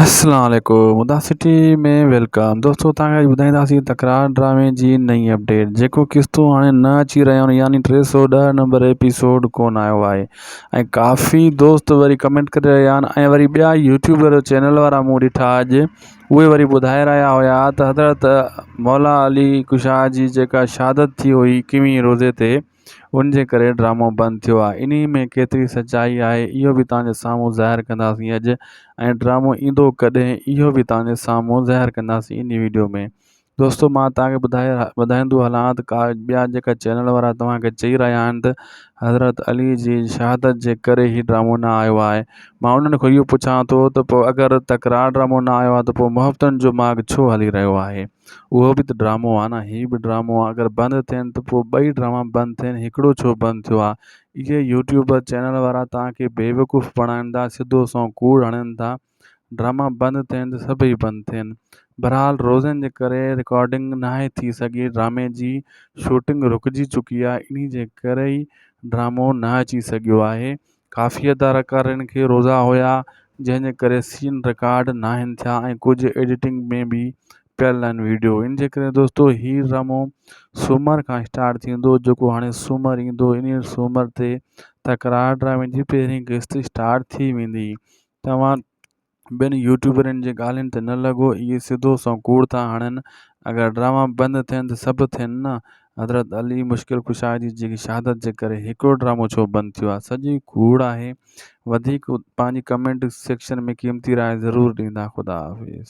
اسلام عليڪم ادا سٽي ۾ ويلڪم دوستو تان کي ٻڌائينداسين تڪرار ڊرامي جي نئين اپڊيٽ جيڪو قسطون هاڻي نه اچي رهيا آهن يعني ٽي سو ڏهه نمبر ايپيسوڊ ڪون آيو آهي ۽ ڪافي دوست وري ڪمينٽ ڪري رهيا آهن ۽ وري ٻيا يوٽيوبر چينل وارا مون ڏٺا اڄ اهي وري ٻڌائي رهيا هيا ته حضرت مولا علي ڪشا جي جيڪا شهادت ٿي هئي اڪيوهين روزي تي ان جي ڪري ڊرامو بند ٿيو آهي انهي ۾ ڪيتري سچائي آهي اهو به توهان جي سامهون ظاهر ڪنداسين اڄ ۽ ڊرامو ايندو ڪڏهن اهو به توهان جي سامهون ظاهر ڪنداسين انهي ويڊيو ۾ دوستو مان توهان کي ٻڌائي ٻڌائيندو هلان ته ڪا ٻيا جيڪا چينل وارا توهان کي چئي رهيا آهن ته حضرت علي جي شهادت جي ڪري هي ڊرامو نه آيو آهي مان انهن کان اهو پڇان ٿو ته پوء اگر تڪرار ڊرامو نه آيو آهي ته پوء محبتن جو ماڳ ڇو هلي رهيو آهي اهو به ته ڊرامو آ نه هي به ڊرامو آ اگر بند ٿين ته پوء ٻئي ڊراما بند ٿين هڪڙو ڇو بند ٿيو آ اهي يوٽيوبر چينل وارا توهان کي بيوقوف بڻائين ٿا سڌو سنئون ڪوڙ هڻين ٿا ڊراما بند ٿين ته سڀئي بند ٿين بھرحال روزن جي ڪري رڪارڊنگ ناهي ٿي سگهي ڊرامي جي شوٽنگ رڪجي چڪي آ انهي جي ڪري ئي ڊرامو نه اچي سگهيو آهي ڪافي اداڪارين کي روزا هيا جنهن جي ڪري سين رڪارڊ ناهن ٿيا ۽ ڪجهه ايڊيٽنگ ۾ به پيل آهن ويڊيو ان جي ڪري دوستو هي رمو سومر کان اسٽارٽ ٿيندو جيڪو هاڻي سومر ايندو انهي سومر تي تڪرار ڊرامي جي پهرين قسط اسٽارٽ ٿي ويندي توهان ٻين يوٽيوبرن جي ڳالهين تي نه لڳو اهي سڌو سنئون ڪوڙ ٿا هڻن اگر ڊراما بند ٿين ته سڀ ٿين نه حضرت علي مشڪل ڪشا جي جي شهادت جي ڪري هڪڙو ڊرامو ڇو بند ٿيو آهي سڄي ڪوڙ آهي وڌيڪ پنهنجي ڪمينٽ سيڪشن ۾ قيمتي راء ضرور ڏيندا خدا حافظ.